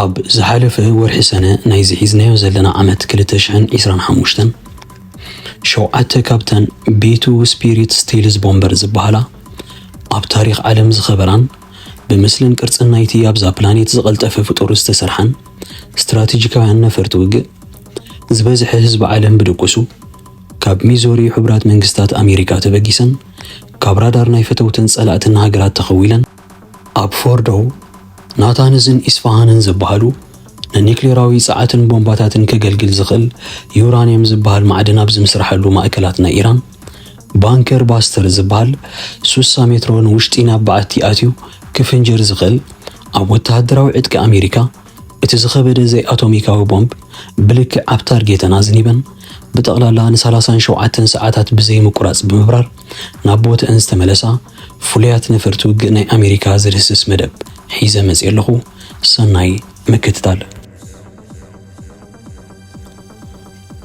ኣብ ዝሓለፈ ወርሒ ሰነ ናይዚ ሒዝናዮ ዘለና ዓመት 2025 ሸውዓተ ካብተን ቤቱ ስፒሪት ስቴልስ ቦምበር ዝበሃላ ኣብ ታሪክ ዓለም ዝኸበራን ብምስልን ቅርጽን ናይቲ ኣብዛ ፕላኔት ዝቐልጠፈ ፍጡር ዝተሰርሓን ስትራቴጂካውያን ነፈርቲ ውግእ ዝበዝሐ ህዝቢ ዓለም ብድቁሱ ካብ ሚዞሪ ሕቡራት መንግስታት ኣሜሪካ ተበጊሰን ካብ ራዳር ናይ ፈተውትን ጸላእትን ሃገራት ተኸዊለን ኣብ ፎርዶው ናታንዝን ኢስፋሃንን ዝበሃሉ ንኒክሌራዊ ጸዓትን ቦምባታትን ከገልግል ዝኽእል ዩራንየም ዝበሃል ማዕድን ኣብ ዝምስርሓሉ ማእከላት ናይ ኢራን ባንከር ባስተር ዝበሃል ሱሳ ሜትሮ ንውሽጢ ናብ በዓቲ ኣትዩ ክፍንጀር ዝኽእል ኣብ ወተሃደራዊ ዕጥቂ ኣሜሪካ እቲ ዝኸበደ ዘይኣቶሚካዊ ቦምብ ብልክዕ ኣብ ታርጌተ ናዝኒበን ብጠቕላላ ን37 ሰዓታት ብዘይምቁራጽ ብምብራር ናብ ቦትአን ዝተመለሳ ፍሉያት ነፈርቲ ውግእ ናይ ኣሜሪካ ዝድህስስ መደብ ሒዘ መፅየ ኣለኹ ሰናይ ምክትታል።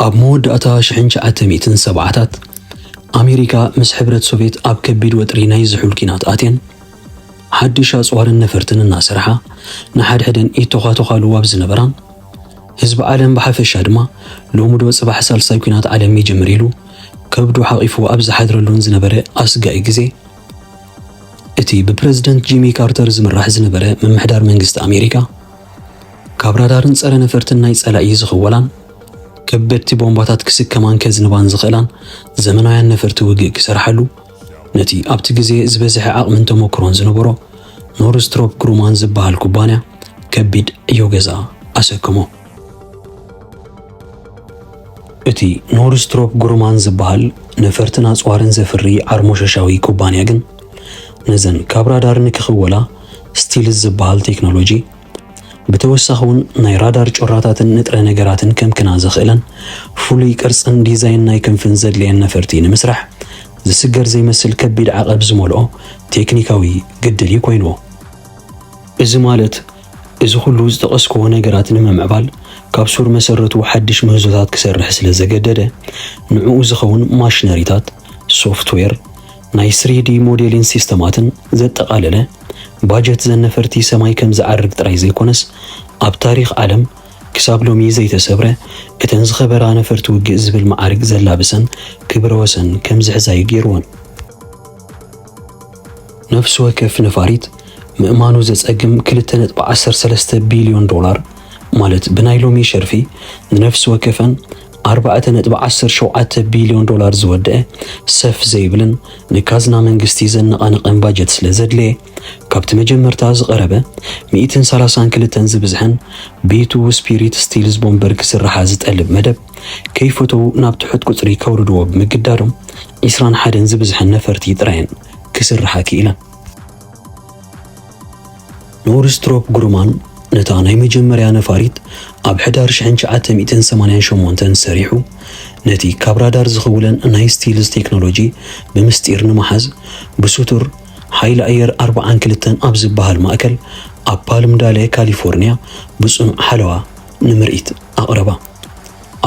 ኣብ መወዳእታ ሽሕን ትሽዓተ ሚእትን ሰብዓታት ኣሜሪካ ምስ ሕብረት ሶቬት ኣብ ከቢድ ወጥሪ ናይ ዝሑል ኲናት ኣትየን ሓድሽ ኣጽዋርን ነፈርትን እናሰርሓ ንሓድሕደን ይተዃተዃሉ ኣብ ዝነበራን ህዝቢ ዓለም ብሓፈሻ ድማ ሎሚ ዶ ጽባሕ ሳልሳይ ኲናት ዓለም ይጅምር ኢሉ ከብዱ ሓቚፉ ኣብ ዝሓድረሉን ዝነበረ ኣስጋኢ ግዜ፣ እቲ ብፕረዚደንት ጂሚ ካርተር ዝምራሕ ዝነበረ ምምሕዳር መንግስቲ ኣሜሪካ፣ ካብ ራዳርን ጸረ ነፈርትን ናይ ጸላኢ ዝኽወላን ከበድቲ ቦምባታት ክስከማን ከዝንባን ዝኽእላን ዘመናውያን ነፈርቲ ውግእ ክሰርሓሉ ነቲ ኣብቲ ግዜ ዝበዝሐ ዓቕምን ተመክሮን ዝነበሮ ኖርስትሮፕ ግሩማን ዝበሃል ኩባንያ ከቢድ ዕዮ ገዛ ኣሰከሞ። እቲ ኖርስትሮፕ ግሩማን ዝበሃል ነፈርትን ኣጽዋርን ዘፍሪ ዓርሞሸሻዊ ኩባንያ ግን ነዘን ካብ ራዳር ንክኽወላ ስቲልዝ ዝበሃል ቴክኖሎጂ ብተወሳኺ ውን ናይ ራዳር ጩራታትን ንጥረ ነገራትን ከምክና ዘኽእለን ፍሉይ ቅርጽን ዲዛይን ናይ ክንፍን ዘድልየን ነፈርቲ ንምስራሕ ዝስገር ዘይመስል ከቢድ ዓቐብ ዝመልኦ ቴክኒካዊ ግድል'ዩ ኮይንዎ። እዚ ማለት እዚ ኩሉ ዝጠቐስክዎ ነገራት ንምምዕባል ካብ ሱር መሰረቱ ሓድሽ ምህዞታት ክሰርሕ ስለ ዘገደደ ንዕኡ ዝኸውን ማሽነሪታት፣ ሶፍትዌር፣ ናይ ስሪዲ ሞዴሊን ሲስተማትን ዘጠቓለለ ባጀት ዘነፈርቲ ሰማይ ከም ዝዓርግ ጥራይ ዘይኮነስ ኣብ ታሪኽ ዓለም ክሳብ ሎሚ ዘይተሰብረ እተን ዝኸበራ ነፈርቲ ውግእ ዝብል መዓርግ ዘላብሰን ክብረ ወሰን ከም ዝሕዛ'ዩ ገይርወን። ነፍሲ ወከፍ ነፋሪት ምእማኑ ዘጸግም ክልተ ነጥቢ ዓሰርተ ሰለስተ ቢልዮን ዶላር ማለት ብናይ ሎሚ ሸርፊ ንነፍሲ ወከፈን ኣርባዕተ ነጥቢ ዓሰርተ ሸውዓተ ቢልዮን ዶላር ዝወደኣ ሰፍ ዘይብልን ንካዝና መንግስቲ ዘነቓንቕን ባጀት ስለ ዘድለየ፣ ካብቲ መጀመርታ ዝቐረበ ሚእትን ሰላሳን ክልተን ዝብዝሐን ብይትዉ ስፒሪት ስቲል ዝቦምበር ክስርሓ ዝጠልብ መደብ ከይፈተዉ ናብ ትሑት ቁጽሪ ከውርድዎ ብምግዳዶም ዒስራን ሓደን ዝብዝሐን ነፈርቲ ጥራየን ክስርሓ ክኢለን። ኖርስትሮፕ ግሩማን ነታ ናይ መጀመርያ ነፋሪት ኣብ ሕዳር 1988 ሰሪሑ ነቲ ካብ ራዳር ዝኽውለን ናይ ስቲልስ ቴክኖሎጂ ብምስጢር ንምሓዝ ብስቱር ሓይሊ ኣየር 42 ኣብ ዝበሃል ማእከል ኣብ ፓልምዳሌ ካሊፎርንያ ብጽኑዕ ሓለዋ ንምርኢት ኣቕረባ።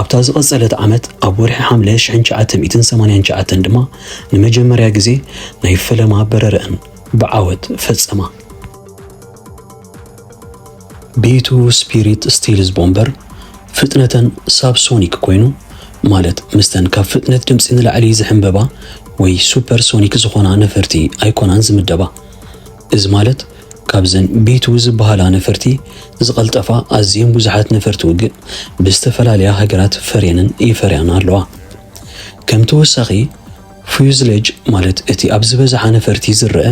ኣብታ ዝቐጸለት ዓመት ኣብ ወርሒ ሓምለ ሽሕን ትሽዓተ ሚእትን ሰማንያን ትሽዓተን ድማ ንመጀመርያ ግዜ ናይ ፈለማ በረረኣን ብዓወት ፈጸማ። ቤቱ ስፒሪት ስቲልዝ ቦምበር ፍጥነተን ሳብሶኒክ ኮይኑ ማለት ምስተን ካብ ፍጥነት ድምፂ ንላዕሊ ዝሕንበባ ወይ ሱፐርሶኒክ ዝኾና ነፈርቲ ኣይኮናን ዝምደባ። እዚ ማለት ካብዘን ቢትው ዝበሃላ ነፈርቲ ዝቐልጠፋ ኣዝየን ብዙሓት ነፈርቲ ውግእ ብዝተፈላለያ ሃገራት ፈርየንን ይፈርያን ኣለዋ። ከም ተወሳኺ ፍዩዝለጅ ማለት እቲ ኣብ ዝበዝሓ ነፈርቲ ዝረኣ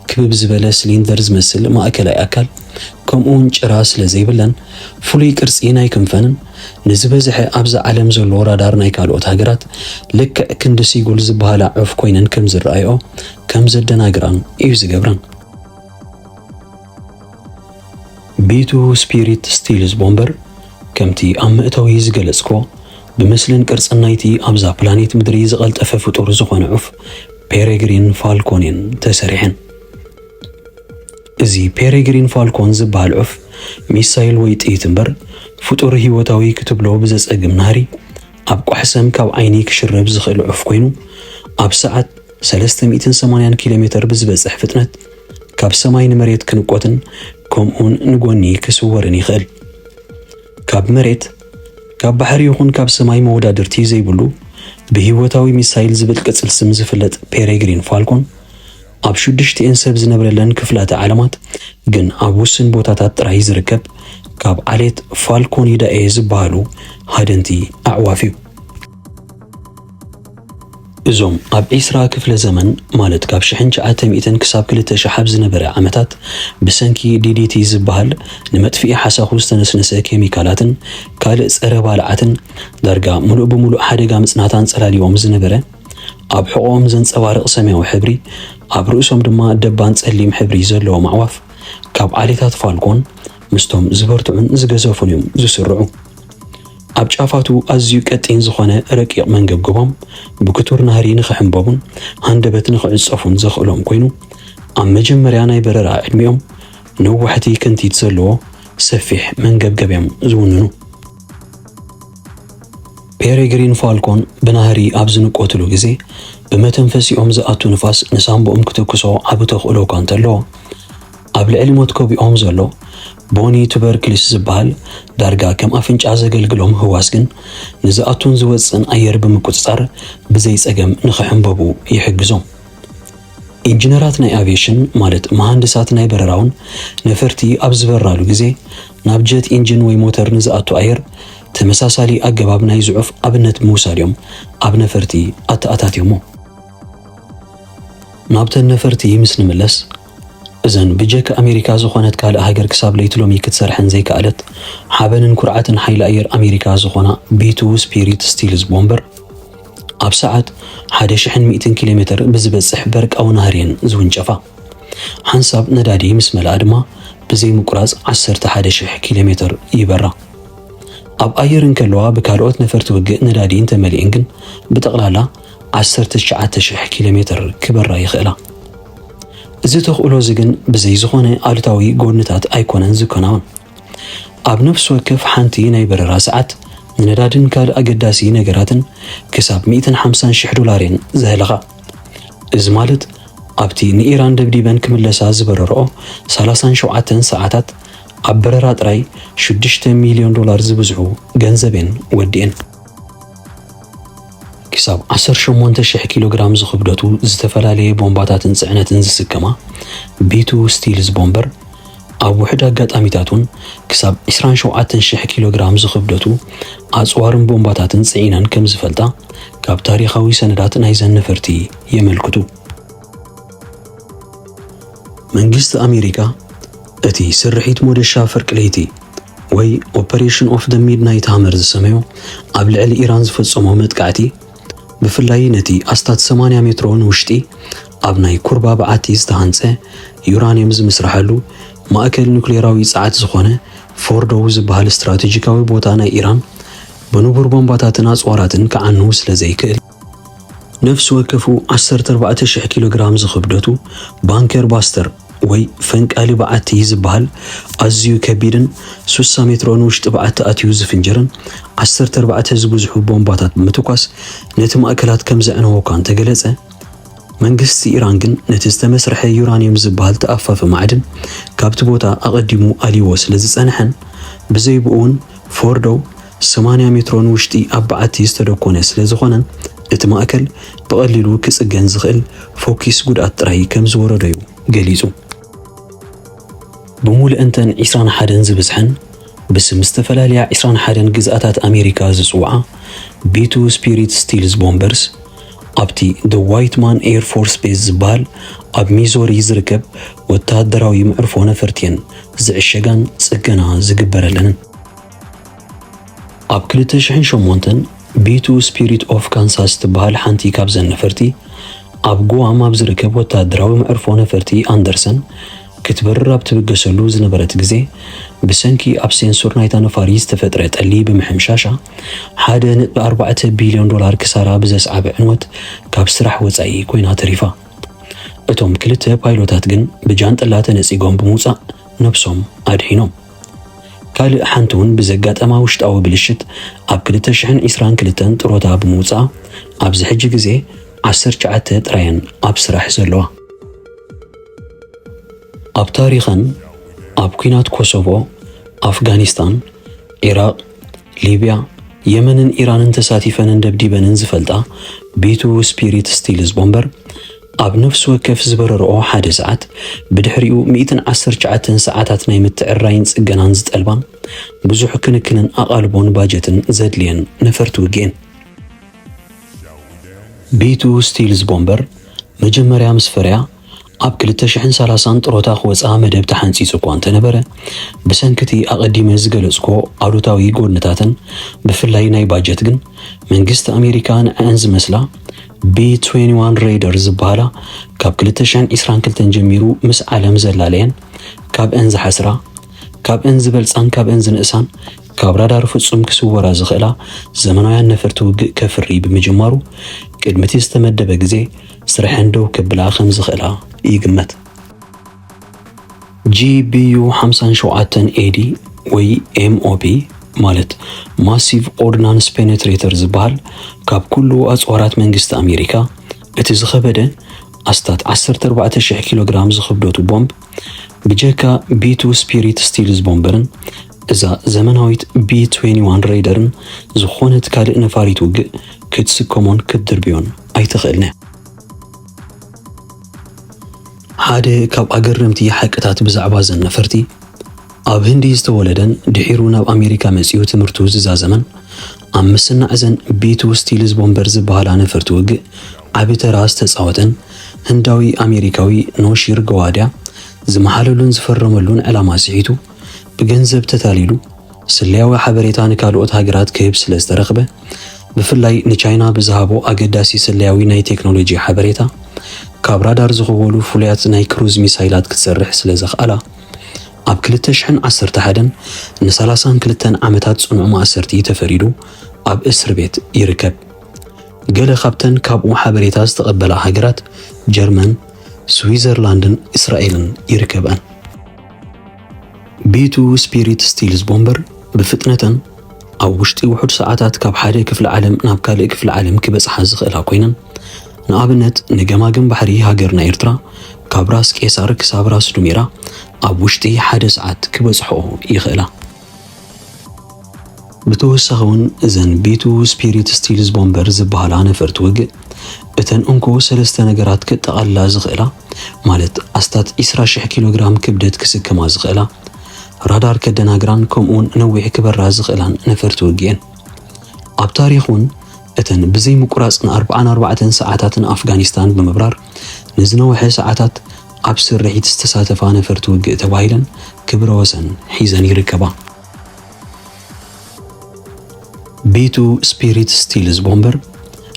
ክብብ ዝበለ ስሊንደር ዝመስል ማእከላይ ኣካል ከምኡውን ጭራ ስለ ዘይብለን ፍሉይ ቅርጺ ናይ ክንፈንን ንዝበዝሐ ኣብዛ ዓለም ዘሎ ራዳር ናይ ካልኦት ሃገራት ልክዕ ክንዲ ሲጉል ዝበሃላ ዑፍ ኮይነን ከም ዝረኣይኦ ከም ዘደናግራን እዩ ዝገብረን። ቤቱ ስፒሪት ስቲልዝ ቦምበር ከምቲ ኣብ መእተዊ ዝገለጽኮ ብምስልን ቅርጽን ናይቲ ኣብዛ ፕላኔት ምድሪ ዝቐልጠፈ ፍጡር ዝኾነ ዑፍ ፔሬግሪን ፋልኮንን ተሰሪሐን። እዚ ፔሬግሪን ፋልኮን ዝበሃል ዑፍ ሚሳይል ወይ ጥይት እምበር ፍጡር ህይወታዊ ክትብሎ ብዘጸግም ናህሪ ኣብ ቋሕሰም ካብ ዓይኒ ክሽረብ ዝኽእል ዑፍ ኮይኑ ኣብ ሰዓት ሰለስተ ሚእትን ሰማንያን ኪሎ ሜተር ብዝበጽሕ ፍጥነት ካብ ሰማይ ንመሬት ክንቆትን ከምኡውን ንጎኒ ክስወርን ይኽእል። ካብ መሬት፣ ካብ ባሕሪ ይኹን ካብ ሰማይ መወዳድርቲ ዘይብሉ ብህይወታዊ ሚሳይል ዝብል ቅጽል ስም ዝፍለጥ ፔሬግሪን ፋልኮን ኣብ ሽዱሽቲኤን ሰብ ዝነብረለን ክፍላተ ዓለማት ግን ኣብ ውስን ቦታታት ጥራይ ዝርከብ ካብ ዓሌት ፋልኮኒዳኤ ዝበሃሉ ሃደንቲ ኣዕዋፍ እዩ። እዞም ኣብ ዒስራ ክፍለ ዘመን ማለት ካብ ሽሕን ትሽዓተ ሚእትን ክሳብ ክልተ ሽሕ ኣብ ዝነበረ ዓመታት ብሰንኪ ዲዲቲ ዝበሃል ንመጥፍኢ ሓሳኹ ዝተነስነሰ ኬሚካላትን ካልእ ጸረ ባልዓትን ዳርጋ ምሉእ ብምሉእ ሓደጋ ምጽናት ኣንጸላልዩዎም ዝነበረ ኣብ ሕቖኦም ዘንጸባርቕ ሰማያዊ ሕብሪ ኣብ ርእሶም ድማ ደባን ጸሊም ሕብሪ ዘለዎም ኣዕዋፍ ካብ ዓሌታት ፋልኮን ምስቶም ዝበርትዑን ዝገዘፉን እዮም ዝስርዑ። ኣብ ጫፋቱ ኣዝዩ ቀጢን ዝኾነ ረቂቕ መንገብገቦም ብክቱር ናህሪ ንኽሕምበቡን ሃንደበት ንኽዕጸፉን ዘኽእሎም ኮይኑ፣ ኣብ መጀመርያ ናይ በረራ ዕድሚኦም ነዋሕቲ ክንቲት ዘለዎ ሰፊሕ መንገብገብ'ዮም ዝውንኑ። ፔሬግሪን ፋልኮን ብናህሪ ኣብ ዝንቆትሉ ግዜ፣ ብመተንፈሲኦም ዝኣቱ ንፋስ ንሳንቡኦም ክተኩሶ ዓቢ ተኽእሎ'ኳ እንተለዎ፣ ኣብ ልዕሊ ሞት ከቢኦም ዘሎ ቦኒ ቱበርክሊስ ዝበሃል ዳርጋ ከም ኣፍንጫ ዘገልግሎም ህዋስ ግን ንዝኣቱን ዝወጽእን ኣየር ብምቁጽጻር ብዘይ ጸገም ንኽሕምበቡ ይሕግዞም። ኢንጂነራት ናይ ኣቪየሽን ማለት መሃንድሳት ናይ በረራውን ነፈርቲ ኣብ ዝበራሉ ግዜ ናብ ጀት ኢንጂን ወይ ሞተር ንዝኣቱ ኣየር ተመሳሳሊ ኣገባብ ናይ ዝዑፍ ኣብነት ብምውሳድ እዮም ኣብ ነፈርቲ ኣተኣታትዮሞ። ናብተን ነፈርቲ ምስ ንምለስ፣ እዘን ብጀካ ኣሜሪካ ዝኾነት ካልእ ሃገር ክሳብ ለይቲ ሎሚ ክትሰርሐን ዘይከኣለት ሓበንን ኩርዓትን ሓይሊ ኣየር ኣሜሪካ ዝኾና ቢ ትዉ ስፒሪት ስቲልዝ ቦምበር ኣብ ሰዓት ሓደ ሽሕን ሚእትን ኪሎ ሜተር ብዝበጽሕ በርቃዊ ናህሪ እየን ዝውንጨፋ። ሓንሳብ ነዳዲ ምስ መልኣ ድማ ብዘይ ምቁራጽ ዓሰርተ ሓደ ሽሕ ኪሎ ሜተር ይበራ። ኣብ ኣየር እንከለዋ ብካልኦት ነፈርቲ ውግእ ነዳዲ እንተመሊኤን ግን ብጠቕላላ ዓሰርተ ትሽዓተ ሽሕ ኪሎ ሜተር ክበራ ይኽእላ። እዚ ተኽእሎ እዚ ግን ብዘይ ዝኾነ ኣሉታዊ ጎንታት ኣይኮነን ዝከናወን። ኣብ ነፍሲ ወከፍ ሓንቲ ናይ በረራ ሰዓት ንነዳድን ካልእ ኣገዳሲ ነገራትን ክሳብ ሚእትን ሓምሳን ሽሕ ዶላር እየን ዘህልኻ። እዚ ማለት ኣብቲ ንኢራን ደብዲበን ክምለሳ ዝበረርኦ ሰላሳን ሸውዓተን ሰዓታት ኣብ በረራ ጥራይ ሽዱሽተ ሚልዮን ዶላር ዝብዝሑ ገንዘብ እየን ወዲኤን። ክሳብ ዓሰርተ ሸሞንተ ሽሕ ኪሎ ግራም ዝኽብደቱ ዝተፈላለየ ቦምባታትን ጽዕነትን ዝስከማ ቤቱ ስቲልስ ቦምበር ኣብ ውሕድ ኣጋጣሚታት እውን ክሳብ 27 ሽሕ ኪሎ ግራም ዝኽብደቱ ኣጽዋርን ቦምባታትን ጽዒነን ከም ዝፈልጣ ካብ ታሪኻዊ ሰነዳት ናይዘን ነፈርቲ የመልክቱ። መንግስቲ ኣሜሪካ እቲ ስርሒት ሞደሻ ፍርቂ ለይቲ ወይ ኦፐሬሽን ኦፍ ደ ሚድናይት ሃመር ዝሰመዮ ኣብ ልዕሊ ኢራን ዝፈጸሞ መጥቃዕቲ ብፍላይ ነቲ ኣስታት 80 ሜትሮ ንውሽጢ ኣብ ናይ ኩርባ በዓቲ ዝተሃንጸ ዩራንየም ዝምስርሓሉ ማእከል ኑክሌራዊ ጸዓት ዝኾነ ፎርዶው ዝበሃል ስትራቴጂካዊ ቦታ ናይ ኢራን ብንቡር ቦምባታትን ኣጽዋራትን ክዓኑ ስለ ዘይክእል ነፍሲ ወከፉ ዓሰርተ ኣርባዕተ ሽሕ ኪሎግራም ዝኽብደቱ ባንከር ባስተር ወይ ፈንቃሊ በዓቲ ዝበሃል ኣዝዩ ከቢድን ሱሳ ሜትሮ ንውሽጢ በዓቲ ኣትዩ ዝፍንጅርን ዓሰርተ ኣርባዕተ ዝብዝሑ ቦምባታት ብምትኳስ ነቲ ማእከላት ከም ዘዕነዎ እኳ እንተገለጸ መንግስቲ ኢራን ግን ነቲ ዝተመስርሐ ዩራንየም ዝበሃል ተኣፋፊ ማዕድን ካብቲ ቦታ ኣቐዲሙ ኣልይዎ ስለ ዝጸንሐን ብዘይብኡ እውን ፎርዶ ሰማንያ ሜትሮ ንውሽጢ ኣብ በዓቲ ዝተደኮነ ስለ ዝኾነን እቲ ማእከል ብቐሊሉ ክጽገን ዝኽእል ፎኪስ ጉድኣት ጥራይ ከም ዝወረዶ'ዩ ገሊጹ። ብምሉእንተን ዕስራን ሓደን ዝብጽሐን ብስም ዝተፈላለያ ዕስራን ሓደን ግዝኣታት ኣሜሪካ ዝጽውዓ ቢቱ ስፒሪት ስቲልዝ ቦምበርስ ኣብቲ The Whiteman Air Force Base ዝበሃል ኣብ ሚዞሪ ዝርከብ ወተሃደራዊ መዕርፎ ነፈርቲ'የን ዝዕሸጋን ጽገና ዝግበረለንን። ኣብ ክልተ ሽሕን ሸሞንተን ቤቱ ስፒሪት ኦፍ ካንሳስ ትበሃል ሓንቲ ካብዘን ነፈርቲ ኣብ ጉዋም ኣብ ዝርከብ ወተሃደራዊ መዕርፎ ነፈርቲ ኣንደርሰን ክትበርር ኣብ ትብገሰሉ ዝነበረት ግዜ ብሰንኪ ኣብ ሴንሱር ናይታ ነፋሪ ዝተፈጥረ ጠሊ ብምሕምሻሻ ሓደ ነጥቢ ኣርባዕተ ቢልዮን ዶላር ክሳራ ብዘስዓበ ዕንወት ካብ ስራሕ ወጻኢ ኮይና ተሪፋ። እቶም ክልተ ፓይሎታት ግን ብጃንጥላ ተነጺጎም ብምውጻእ ነብሶም ኣድሒኖም። ካልእ ሓንቲ ውን ብዘጋጠማ ውሽጣዊ ብልሽት ኣብ ክልተ ሽሕን ዒስራን ክልተን ጥሮታ ብምውጽኣ ኣብዚ ሕጂ ግዜ ዓሰርተ ትሽዓተ ጥራየን ኣብ ስራሕ ዘለዋ። ኣብ ታሪኸን ኣብ ኲናት ኮሶቮ፣ ኣፍጋኒስታን፣ ዒራቕ፣ ሊብያ፣ የመንን ኢራንን ተሳቲፈንን ደብዲበንን ዝፈልጣ ቢቱዉ ስፒሪት ስቲልዝ ቦምበር፣ ኣብ ነፍሲ ወከፍ ዝበረርኦ ሓደ ሰዓት፣ ብድሕሪኡ ሚእትን ዓሰርተ ትሽዓተን ሰዓታት ናይ ምትዕርራይን ጽገናን ዝጠልባ፣ ብዙሕ ክንክንን ኣቓልቦን ባጀትን ዘድልየን ነፈርቲ ውግእ'የን። ቢቱዉ ስቲልዝ ቦምበር፣ መጀመርያ ምስ ፈርያ፣ ኣብ ክልተ ሽሕን ሰላሳን ጥሮታ ክወጽኣ መደብ ተሓንጺጹ እኳ እንተነበረ፣ ብሰንኪ እቲ ኣቐዲመ ዝገለጽኩዎ ኣሉታዊ ጎድንታተን፣ ብፍላይ ናይ ባጀት ግን፣ መንግስቲ ኣሜሪካ ንዐኣን ዝመስላ ቢ-ትዌንዋን ሬይደር ዝበሃላ ካብ ክልተ ሽሕን ዒስራን ክልተን ጀሚሩ ምስ ዓለም ዘላለየን፣ ካብእን ዝሓስራ፣ ካብእን ዝበልጻን ካብእን ዝንእሳን፣ ካብ ራዳር ፍጹም ክስወራ ዝኽእላ ዘመናውያን ነፈርቲ ውግእ ከፍሪ ብምጅማሩ፣ ቅድሚ'ቲ ዝተመደበ ግዜ፣ ስርሐን ደው ከብላ ከም ዝኽእላ ይግመት። GBU ሓምሳን ሸውዓተን AD ወይ MOP ማለት ማሲቭ ኦርድናንስ ፔኔትሬተር ዝበሃል ካብ ኩሉ ኣጽዋራት መንግስቲ ኣሜሪካ እቲ ዝኸበደ ኣስታት 14,000 ኪሎ ግራም ዝኽብደቱ ቦምብ ብጀካ ቢቱ ስፒሪት ስቲልዝ ቦምበርን እዛ ዘመናዊት ቢ21 ሬደርን ዝኾነት ካልእ ነፋሪት ውግእ ክትስከሞን ክትድርብዮን ኣይትኽእልን እያ። ሓደ ካብ ኣገረምቲ ሓቅታት ብዛዕባ እዘን ነፈርቲ ኣብ ህንዲ ዝተወለደን ድሒሩ ናብ ኣሜሪካ መጺኡ ትምህርቱ ዝዛዘመን ኣብ ምስናዕ እዘን ቤቱ ስቲልዝ ቦምበር ዝበሃላ ነፈርቲ ውግእ ዓቢ ተራ ዝተጻወተን ህንዳዊ ኣሜሪካዊ ኖሺር ገዋድያ ዝመሓለሉን ዝፈረመሉን ዕላማ ስሒቱ ብገንዘብ ተታሊሉ ስለያዊ ሓበሬታ ንካልኦት ሃገራት ክህብ ስለ ዝተረኽበ፣ ብፍላይ ንቻይና ብዝሃቦ ኣገዳሲ ስለያዊ ናይ ቴክኖሎጂ ሓበሬታ፣ ካብ ራዳር ዝኽወሉ ፍሉያት ናይ ክሩዝ ሚሳይላት ክትሰርሕ ስለ ዘኽኣላ፣ ኣብ ክልተ ሽሕን ዓሰርተ ሓደን ንሰላሳን ክልተን ዓመታት ጽኑዕ ማእሰርቲ ተፈሪዱ ኣብ እስርቤት ይርከብ። ገለ ካብተን ካብኡ ሓበሬታ ዝተቐበላ ሃገራት ጀርመን፣ ስዊዘርላንድን እስራኤልን ይርከብኣን። ቢቱ ስፒሪት ስቲልስ ቦምበር ብፍጥነተን ኣብ ውሽጢ ውሑድ ሰዓታት ካብ ሓደ ክፍሊ ዓለም ናብ ካልእ ክፍሊ ዓለም ክበጽሓ ዝኽእላ ኮይነን ንኣብነት ንገማግም ባሕሪ ሃገርና ኤርትራ ካብ ራስ ቄሳር ክሳብ ራስ ዱሜራ ኣብ ውሽጢ ሓደ ሰዓት ክበጽሕኦ ይኽእላ። ብተወሳኺ ውን እዘን ቢቱ ስፒሪት ስቲልዝ ቦምበር ዝብሃላ ነፈርቲ ውግእ እተን እንኮ ሰለስተ ነገራት ከጠቓልላ ዝኽእላ ማለት ኣስታት ዕስራ ሽሕ ኪሎ ግራም ክብደት ክስከማ ዝኽእላ፣ ራዳር ከደናግራን ከምኡ ውን ነዊሕ ክበራ ዝኽእላን ነፈርቲ ውግእ'የን። ኣብ ታሪኽ ውን እተን ብዘይ ምቁራጽ ንኣርብዓን ኣርባዕተን ሰዓታት ንኣፍጋኒስታን ብምብራር፣ ንዝነውሐ ሰዓታት ኣብ ስርሒት ዝተሳተፋ ነፈርቲ ውግእ ተባሂለን ክብረ ወሰን ሒዘን ይርከባ። ቤቱ ስፒሪት ስቲልዝ ቦምበር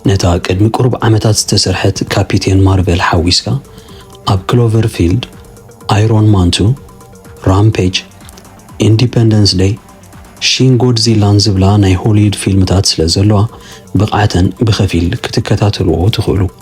ነታ ቅድሚ ቁሩብ ዓመታት ዝተሰርሐት ካፒቴን ማርቨል ሓዊስካ ኣብ ክሎቨር ፊልድ፣ ኣይሮን ማንቱ፣ ራምፔጅ፣ ኢንዲፐንደንስ ደይ፣ ሺን ጎድዚላን ዝብላ ናይ ሆሊድ ፊልምታት ስለዘለዋ ብቕዓተን ብኸፊል ክትከታተልዎ ትኽእሉ።